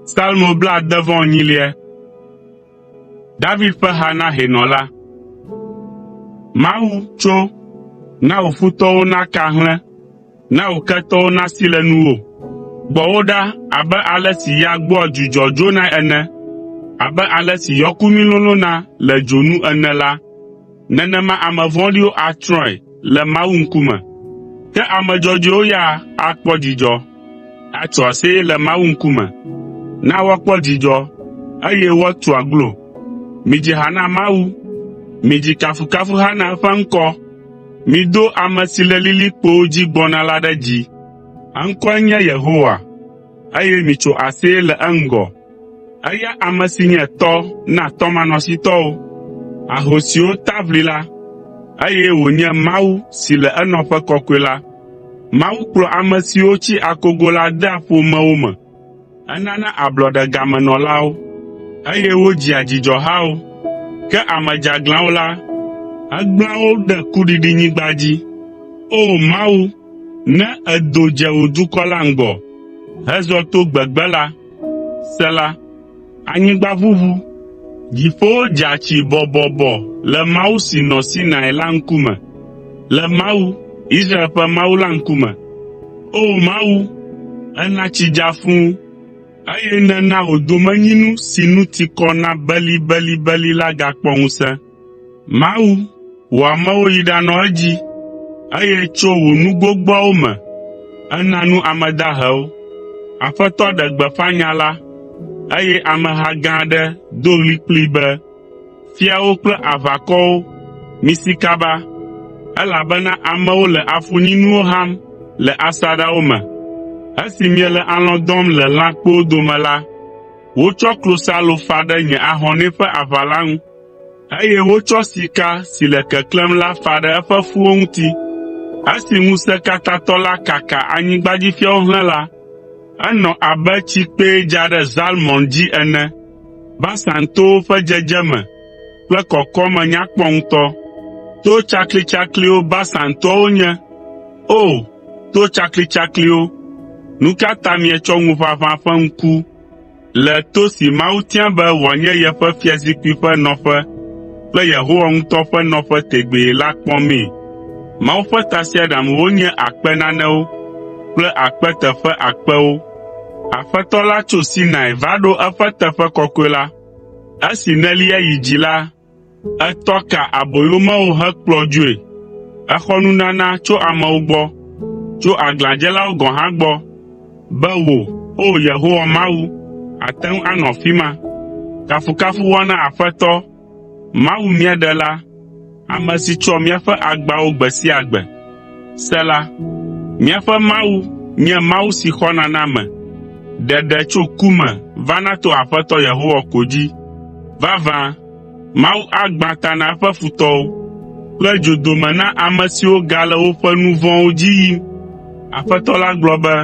Salmo blaade vɔ enyilia. David ƒe ha na hɛnɔ la. Mawu, tso, na wò futɔwo naka hlẽ, na wò ketɔwo nasi le nuwò. Gbɔ wo ɖa abe ale si ya gbɔa dzudzɔ dzonae ene, abe ale si yɔkumi lolõna le dzo nu ene la, Nenema ame vɔ̃ɖiwo atsrɔ̃e le Mawu ŋkume, ke ame dzɔdzɔewo ya akpɔ dzidzɔ, atso aseye le Mawu ŋkume. Na woakpɔ dzidzɔ, eye woatu aglo. Midzi ha na Mawu. Midzi kafukafuha na eƒe ŋkɔ. Mido ame si le lilikpowo dzi gbɔna la ɖe dzi. Eŋkɔe nye Yehowa, eye mitso aseye le eŋgɔ. Eya ame si nye tɔ na tɔmanɔsitɔwo, ahosiwo ta ʋli la, eye wònye Mawu si le enɔƒe kɔkɔe la. Mawu kplɔ ame siwo tsi akogo la dea ƒomewo me. Enana ablɔɖe game nɔlawo, eye wodzia dzidzɔhawo. Ke ame dzeaglãwo la, egblẽa wo ɖe kuɖiɖinyigba dzi. O Mawu, ne èdo dze wò dukɔ la ŋgɔ hezɔ to gbegbe la, Sela Anyigba ʋuʋu, dziƒowo dza tsi bɔbɔbɔ le Mawu si nɔ Sinai la ŋkume, le Mawu, Israel ƒe Mawu la ŋkume. O Mawu, èna tsi dza fũ, eye nèna wò domenyinu si nu ti kɔ na belibelibeli la gakpɔ ŋusẽ. Mawu, wò amewo yi ɖanɔ edzi, eye tso wò nu gbogboawo me èna nu ame dahewo. Aƒetɔ ɖe gbeƒã nya la, eye ameha gã aɖe do ɣli kplii be, “Fiawo kple aʋakɔwo, misi kaba, elabena amewo le afunyinuwo ham le asaɖawo me. Esi miele alɔ̃ dɔm le lãkpowo dome la, wotsɔ klosalo fa ɖe nye ahɔnɛ ƒe aʋala ŋu.” Eye wotsɔ sika si le keklẽm la fa ɖe eƒe fuwo ŋuti. Esi Ŋusẽkatãtɔ la kaka anyigbadzifiawo hlẽ la, enɔ abe tsikpee dza ɖe Zalmɔn dzi ene. Basan towo ƒe dzedzeme kple kɔkɔme nya kpɔ ŋutɔ. To tsaklitsakliwo Basan toawo nye. O! To tsaklitsakliwo, nu ka ta mietsɔ ŋuʋaʋã ƒe ŋku, Le to si Mawu tia be wòanye yeƒe fiazikpui ƒe nɔƒe kple Yehowa ŋutɔ ƒe nɔƒe tegbee la kpɔmee. Mawu ƒe tasiaɖamwo nye akpe nanewo kple akpe teƒe akpewo. Aƒetɔ la tso Sinai va ɖo eƒe teƒe kɔkɔe la. Esi nèlia yi dzi la, Etɔ ka aboyomewo hekplɔ dzoe. Exɔ nunana tso amewo gbɔ, tso aglãdzelawo gɔ̃ hã gbɔ, be wò, O Yehowa Mawu, àte ŋu anɔ afi ma. Kafukafu woana Aƒetɔ, Mawu mía Ɖela, ame si tsɔa míaƒe agbawo gbe sia gbe. Sela Míaƒe Mawu nye Mawu si xɔna na ame. Ɖeɖe tso ku me vana to Aƒetɔ Yehowa ko dzi. Vavã, Mawu agbã ta na eƒe futɔwo, kple dzodome na ame siwo gale woƒe nu vɔ̃wo dzi yim. Aƒetɔ la gblɔ be,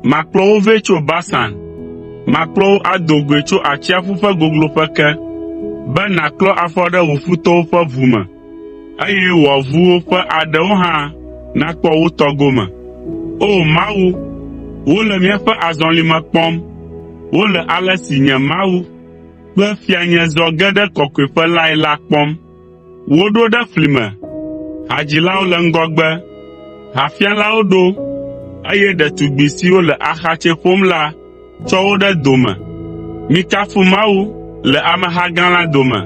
“Makplɔ wo vɛ tso Basan, makplɔ wo ado goe tso atsiaƒu ƒe gogloƒe ke, be nàklɔ afɔ ɖe wò futɔwo ƒe ʋu me. eye wò avuwo ƒe aɖewo hã nakpɔ wo tɔ gome. O Mawu, wole míaƒe azɔlime kpɔm, wole ale si nye Mawu kple Fianye zɔ ge ɖe kɔkɔeƒe lae la kpɔm. Woɖo ɖe fli me, hadzilawo le ŋgɔgbe, hafialawo ɖo, eye ɖetugbi siwo le axatsɛ ƒom la tsɔ wo ɖe dome. Mikafu Mawu le ameha gã la dome.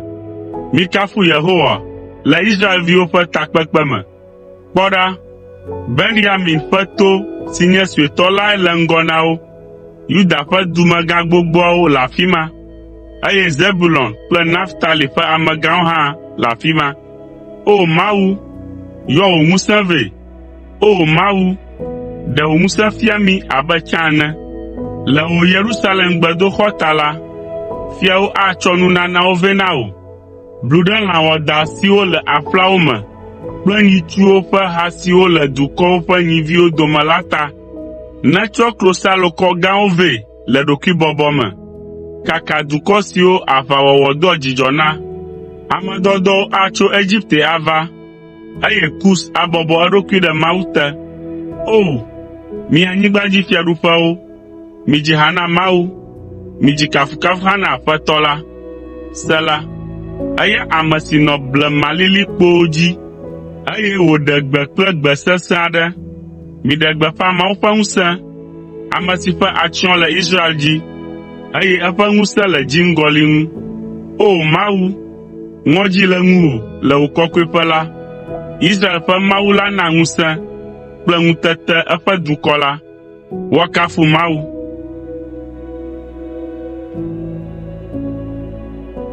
Mikafu Yehowa le Israelviwo ƒe takpekpe me. Kpɔ ɖa, Benyamin ƒe to si nye suetɔ lae le ŋgɔ na wo. Yuda ƒe dumegã gbogboawo le afi ma, eye Zebulon kple Naftali ƒe amegãwo hã le afi ma. O Mawu, yɔ wò ŋusẽ vɛ, O Mawu, ɖe wò ŋusẽ fia mí abe tsã ene. Le wò Yerusalem gbedoxɔ ta la, fiawo atsɔ nunanawo vɛ na wò. Blu ɖe lã wɔadã siwo le aƒlawo me kple nyitsuwo ƒe ha siwo le dukɔwo ƒe nyiviwo dome la ta. Nètsɔ klosalokɔ gãwo vɛ le ɖokuibɔbɔ me. Kaka dukɔ siwo aʋawɔwɔ doa dzidzɔ na. Ame dɔdɔwo atso Egipte ava. eye Kus abɔbɔ eɖokui ɖe Mawu te. O! Mi anyigbadzifiaɖuƒewo, midzi ha na Mawu, midzi kafukafuha na Aƒetɔ la. Sela Eya ame si nɔ blemalilikpowo dzi, eye wòɖe gbe kple gbe sesẽ aɖe. Miɖe gbeƒã Mawu ƒe ŋusẽ, ame si ƒe atsyɔ̃ le Israel dzi, eye eƒe ŋusẽ le dziŋgɔli ŋu. O Mawu, Ŋɔdzi le ŋuwò le wò kɔkɔeƒe la. Israel ƒe Mawu la na ŋusẽ kple ŋutete eƒe dukɔ la. Woakafu Mawu!